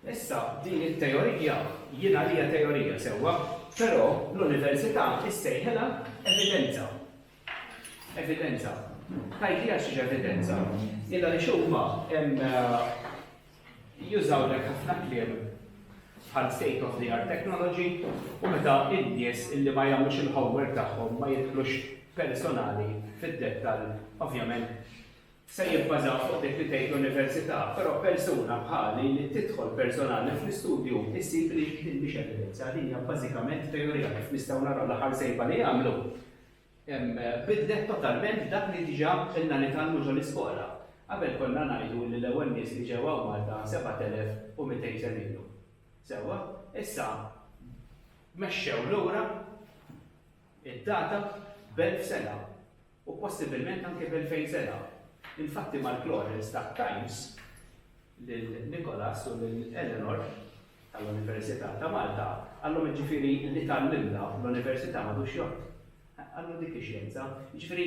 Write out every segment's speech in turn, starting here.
Issa, din it-teorija jien għalija teorija, sewwa, però l-università issejħilha evidenza. Evidenza. Tgħidli għax hija evidenza. Illa li xuma jużaw dak ħafna kliem bħal state of the art technology u meta id-nies illi ma jagħmlux il-homework tagħhom ma jidħlux personali fid-dettal, ovvjament se jibbażaw fuq dik li tgħid l-Università, però persuna bħali li tidħol personali fl-istudju issib li din mhix evidenza, din hija bażikament teorija kif nistgħu naraw l-aħħar sejba li għamlu bidlet totalment dak li diġà ilna nitgħallmu ġol-iskola. Qabel konna ngħidu li l-ewwel nies li ġew hawn Malta 7200 sena ilu. Sewwa? Issa mexxew lura. id-data b'elf sena u possibilment anke b'elfejn sena. Infatti Mark-Lawrence ta Times lil Nicholas u lil Eleanor tal-Università ta' Malta, qallhom jiġifieri li tgħallimna fl-Università m'għadux jgħodd. Qallu dik hi xjenza. Jiġifieri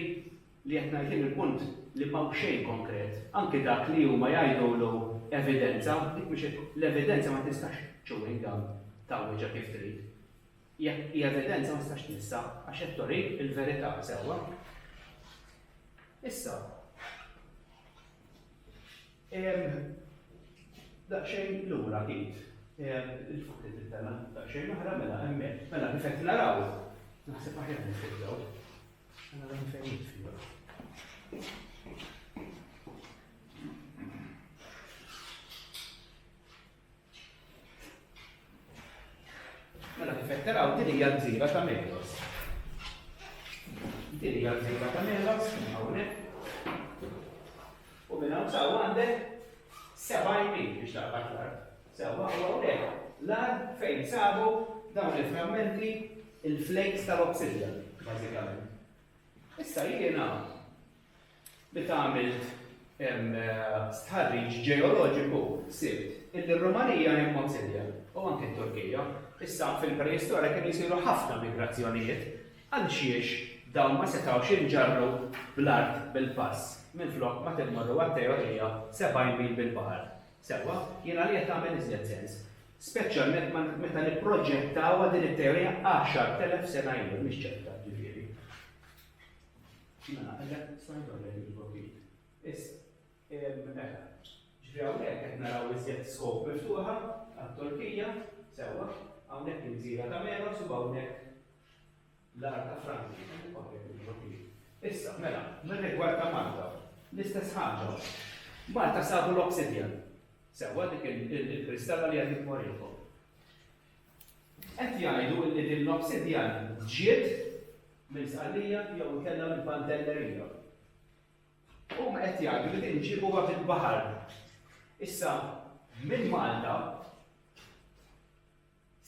li qed ngħid jien il-punt li m'hawn xejn konkret. Anke dak li huma jgħidulu evidenza, dik mhix l-evidenza ma tistax chewing gum tgħawweġha kif trid. Jekk hi evidenza ma tistax tmissha għax qed turi l-verità sewwa. Issa, daqsxejn lura id, il-fuq li tittella daqsxejn oħra mela hemmhekk. Mela kif qed naraw, naħseb aħjar nifiddaw. Mela dan fejn jitfiddaw. Mela kif qed taraw din hija l-gżira ta' Melos. Din hija l-gżira ta' Melos hawnhekk. U minn hawn saw għandek seba' jmin biex taqbad l-art. Sewwa u hawnhekk l-art fejn sabu dawn il-frammenti il-flakes tal-obsidja, bażikament. Issa jiena Meta għamilt stħarriġ ġeoloġiku sibt illi r-Rumanija hi mmod simili, u anke t-Turkija, issa fil-preistorja kienu jsiru ħafna migrazzjonijiet, għalxiex dawn ma setgħux jinġarru bl-art bil-pass minflok ma timmorru għat-teorija 70 mil bil-baħar? Sewwa, jien għalija tagħmel iżjed sens. Speċjalment meta nipproġettawha din it-teorija 10,000 sena ilu, mhix ċerta, ġifieri. Jiena naqleb smajthom qegħdin jidħlu ftit. Issa, mela, ġifieri hawnhekk qed naraw iżjed scope miftuħa għat-Turkija, sewwa, hawnhekk il-gżira ta' Meros u hawnhekk l-art ta' Franzi, Issa, mela, mir-rigward ta' Malta, l-istess ħaġa. Malta sabu l-obsidian, sewwa dik il-kristalla li għadit morikom. Qed jgħidu illi din l-obsidjan ġiet minn Sqallija jew inkella minn Pantelleria. Huma qed jgħidu li din ġiebuha mill-baħar. Issa minn Malta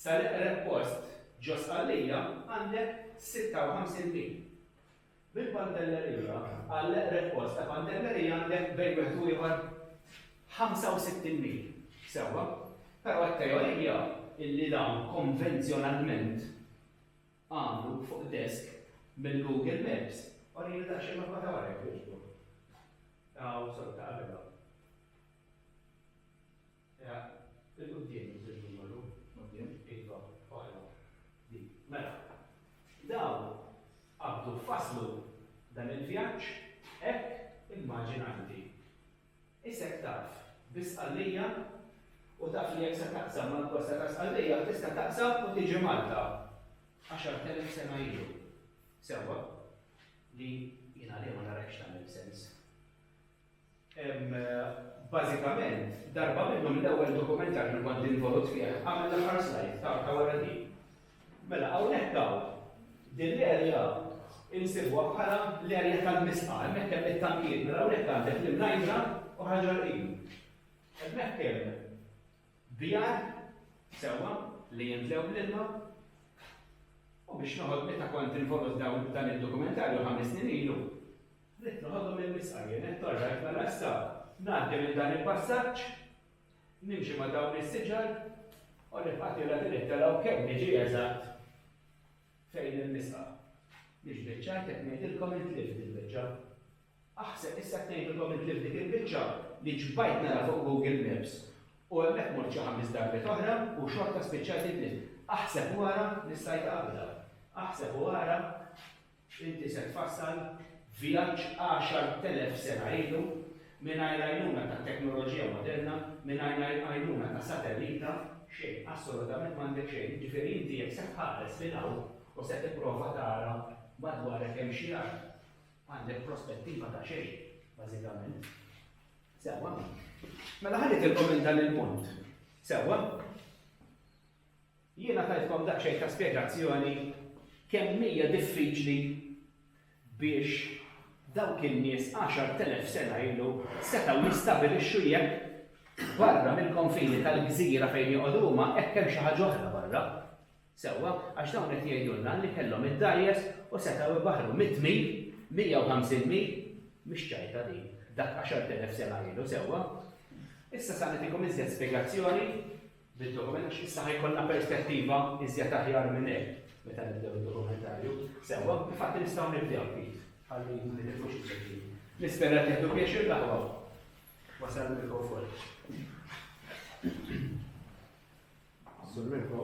sal-eqreb post ġo Sqallija għandek 56 mil. Bil-pantellerija, għal l-eqreb post ta' pantellerija għandek bejn wieħed u ieħor 65 mil. Sewwa. Però t-teorija illi dawn konvenzjonalment għamlu fuq desk mill-Google Maps. Orini daqsxejn mappa ta' wara jekk jogħġbok. Hawn, sotto, qabelha. Il-quddiem iżżid numeru, quddiem. Iva, oħra, di. Mela, dawn qabdu fasslu dan il-vjaġġ hekk immaġina inti. Isek taf bi Sqallija u taf li jekk se taqsam mal-kosta ta' Sqallija tista' taqsam u tiġi Malta. Għaxart elef sena ilu. Sewwa? Li jien għalija ma narahx tagħmel sens. Bażikament, darba minnhom l-ewwel dokumentar li kont involut fih għamel l-aħħar slide ta' ta' wara din. Mela hawnhekk hawn din l-erja insibuha bħala l-erja tal-misqa, hemmhekk hemm it-tankiet, mela hawnhekk għandek l-imnajdra u ħaġar qim. Hemmhekk hemm bjar sewwa li jimtlew bl-ilma u biex noħod meta kont involut dawn dan id-dokumentarju ħames snin ilu, Ridt noħodhom mill-bisqa jien, qed torrajt mela issa ngħaddi minn dan il-passaġġ, nimxi ma' dawn is-siġar u nibqa' tiela' din it-telgħa u kemm niġi eżatt fejn il-bisqa. Mhix biċċa, qed ngħidilkom intlift il-biċċa. Aħseb issa qed ngħidilkom intlift dik il-biċċa li ġbajt nara fuq Google Maps u hemmhekk mort xi ħames darbiet oħra u xorta spiċċajt intlift. Aħseb u ara li stajt qabidha. Aħseb u ara. Inti se tfassal vjaġġ għaxar telef sena ilu mingħajr l-għajnuna tat-teknoloġija moderna, mingħajr l-għajnuna ta' satellita, xejn, assolutament m'għandek xejn. Jiġifieri inti jekk se tħares lil hawn u se tipprova tara madwarek hemm xi art, għandek prospettiva ta' xejn, bażikament. Sewwa. Mela ħa nitilkom lil dan il-punt. Sewwa? Jiena tajtkom daqsxejn ta' spjegazzjoni kemm hija diffiċli biex dawk in-nies għaxart elef sena ilu setgħu jistabilixxu jekk barra mill-konfini tal-gżira fejn joqogħdu huma hekk hemm xi ħaġa oħra barra. Sewwa, għax dawn qed jgħidulna li kellhom id-dgħajjes u setgħu jbaħħru mitt mil, mija u ħamsin mil, mhix ċajta din, dak għaxart elef sena ilu, sewwa? Issa sa nagħtikom iżjed spjegazzjoni bid-dokument għax issa ħajkollna perspettiva iżjed aħjar minn hekk meta nibdew id-dokumentarju. Sewwa, infatti nistgħu nibdew Pit, ħalli ma nitilfux il-ġejjin. Nispera li tieħdu pjaċir l-aħwa. Wasal il-mikrofon. Sur Mirko,